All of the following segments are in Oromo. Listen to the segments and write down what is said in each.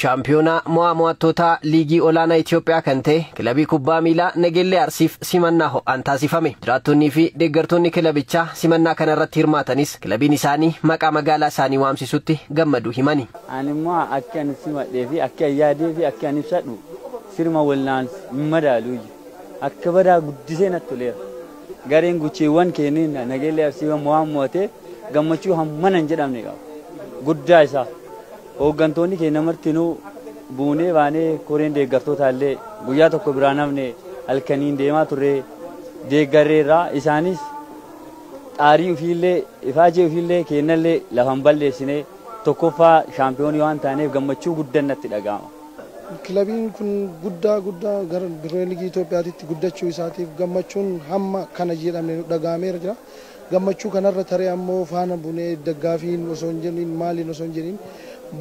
Shaampiyoonaa mo'aa mo'attootaa liigii olaanaa Itoophiyaa kan ta'e kilabii kubbaa miilaa Nageellee Arsiif simannaa ho'aan taasifame. Jiraattonnii fi deeggartoonni kilabichaa simannaa kana irratti hirmaatanis kilabiin isaanii maqaa magaalaa isaanii waamsisutti gammaduu himani. Ani immoo akki ani simadhee fi akki ani yaadee fi akki ani ibsadhu sirma walnaan hin madaalu. Akka badaa guddisee natti toleera. Gareen guchiiwwan keeniin Nageellee Arsii waan mo'ate gammachuu hammana hin jedhamne qaba. Guddaa isaa hooggantoonni keenya martinuu buunee baanee koreen deeggartootaa illee guyyaa tokko biraan hafne halkaniin deemaa turree deeggarreerraa isaanis xaarii ofiillee ifaajee ofiillee keennallee lafa hin balleessine tokkoffaa shaampiyoonii waan taaneef gammachuu guddan natti dhaga'ama. Kilabiin kun guddaa guddaa gara Pirimeer Liigii Itoophiyaatitti guddachuu isaatiif gammachuun hamma kana jedhamne nu dhaga'ameera jira. Gammachuu kanarra taree ammoo faana bunee daggaafiin osoo hin jedhiin maaliin osoo hin jedhiin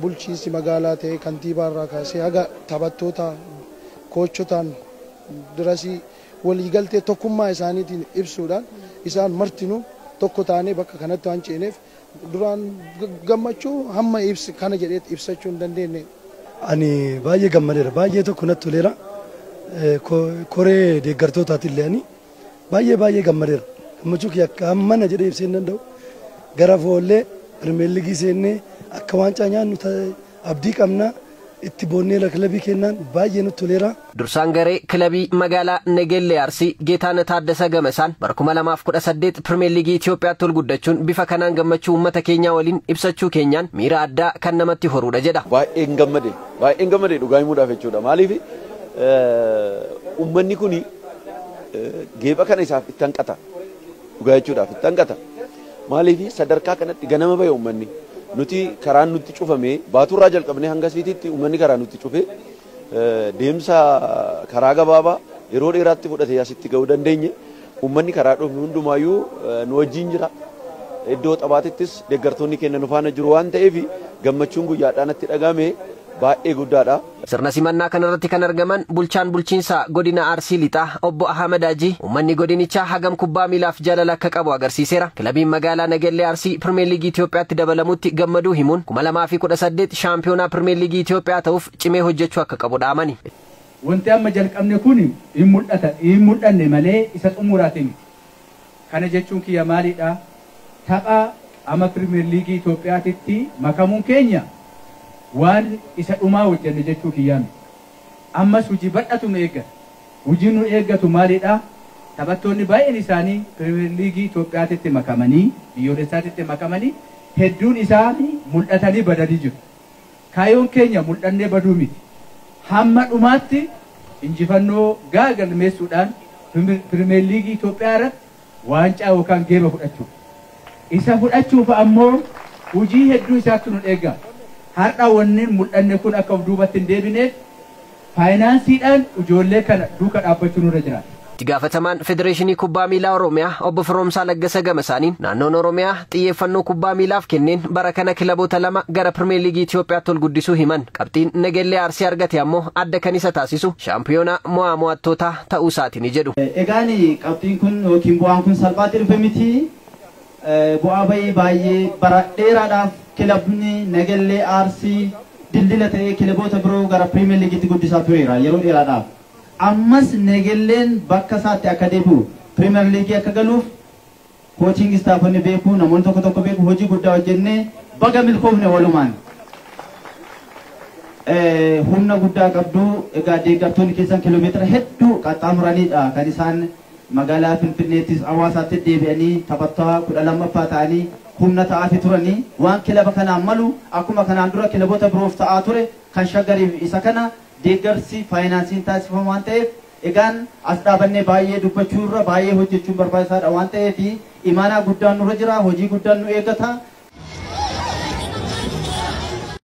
bulchiinsi magaalaa ta'ee kantiibaarraa kaasee haga taphattootaa, koochotaan dirasii waliigaltee tokkummaa isaaniitiin ibsuudhaan isaan martinuu tokko taanee bakka kanatti waan ceeneef Duraan gammachuu hamma ibsi kana jedhee ibsachuu hin dandeenne. Ani baay'ee gammadeera. Baay'ee tokko natti toleera. Koree deeggartootaatillee ani baay'ee baay'ee gammadeera. Gammachuu kiyya akka hammana jedhee ibsee hin danda'u. Gara foollee Pirimeer Liigii seennee akka waancaa nyaannu Abdii qabna, itti boonneerra kilabii keennaan baay'ee nutti toleera. Dursaan garee kilabii magaalaa Negeellee Arsii Geetaanah Taaddasaa gamasaan bara 2018 Pirimeer Liigii Itiyoophiyaatti ol guddachuun bifa kanaan gammachuu uummata keenyaa waliin ibsachuu keenyaan miira addaa kan namatti horuudha jedha. Baay'een gammade, baay'een gammade dhugaa himuudhaaf jechuudha. Maaliif uummanni kun geepha kana isaaf itti hanqata. Dhugaa jechuudhaaf itti hanqata. Maaliif sadarkaa kanatti ganama bahe uummanni. Nuti karaan nutti cufame baatuurraa jalqabnee hanga siitiitti uummanni karaa nutti cufe deemsa karaa gabaabaa yeroo dheeraatti fudhatee asitti ga'uu dandeenye. Uummanni karaa dhufnu hundumaayyuu nu wajjin jira. Iddoo taphaatittis deeggartoonni keenya nu faana jiru waan ta'eef gammachuun guyyaadhaa natti dhaga'ame baay'ee guddaadha. Sirna simannaa kanarratti kan argaman bulchaan bulchiinsa godina Arsii Lixaa obbo Ahamad Hajii uummanni godinichaa hagam kubbaa miilaaf jaalala akka qabu agarsiiseera. Kilabiin magaalaa Nagellee Arsii Pirmeer Liigii Itoophiyaatti dabalamutti gammaduu himuun 2018 shaampiyoonaa Pirmeer Liigii Itoophiyaa ta'uuf cimee hojjechuu akka qabu dhaamani. Wanti amma jalqabne kun hin mul'ata hin mul'anne malee isa xumuraati miti. Kana jechuun kiyya maalidha? Tapha ama Pirimeer Liigii Itoophiyaatitti makamuun keenya waan isa dhumaa hojjenne jechuu kiyyaa miti. Ammas hujii bal'atu nu eeggata. Hujiin nu eeggatu maalidha? Taphattoonni baay'een isaanii Pirimeer Liigii Itoophiyaatitti makamanii, biyyoolessaatitti makamanii hedduun isaanii mul'atanii badanii jiru. Kaayoon keenya muldhannee baduu miti. Hamma dhumaatti injifannoo ga'a galmeessuudhaan Pirimeer Liigii Itoophiyaa irratti waancaa yookaan geeba fudhachuudha. Isa fudhachuuf ammoo hujii hedduu isaattu nun eega. Hardha wannin muldhanne kun akka of duubatti hin deebineef Faayinaansiidhaan ijoollee kana duuka dhaabbachuu nurra jiraata. Itti gaafatamaan Federeeshinii Kubbaa Miilaa Oromiyaa Obbo Firoomsaa Laggasa gama isaaniin, naannoon Oromiyaa xiyyeeffannoo kubbaa miilaaf kenneen bara kana kilaboota lama gara Pirimeer Liigii Itiyoophiyaatti ol guddisuu himan. Qabxiin Negellee Arsii argate ammoo adda kan isa taasisu shaampiyoonaa mo'aa mo'attootaa ta'uu isaatini jedhu. Egaan qabxiin kun yookiin bu'aan kun salphaatti dhufe miti. Bu'aa ba'ii baay'ee bara dheeraadhaaf kilabni Nagellee Arsii dildila ta'ee kilaboota biroo gara Piriimeer Liigiitti guddisaa tureera yeroo dheeraadhaaf. Ammas Nagelleen bakka isaatti akka deebi'u, Piriimeer Liigii akka galuuf koochiingi istaafonni beeku, namoonni tokko tokko beeku, hojii guddaa hojjennee baga milkoofne walumaan. Humna guddaa qabdu, egaa deeggartoonni keessan kiiloomeetira hedduu qaxxaamuraniidha kan isaan Magaalaa Finfinneettis Awaasaatti deebi'anii taphattoa 12ffaa ta'anii humna ta'aafi turani. Waan kilaba kanaaf malu akkuma kanaan dura kilabota biroof ta'aa ture kan Shaggariif isa kana deeggarsi faayinaansiin taasifama waan ta'eef egaan as dhaabannee baay'ee dubbachuu irra baay'ee hojjechuun barbaachisaadha waan ta'eef imaanaa guddaan nurra jira hojii guddaan nu eeggata.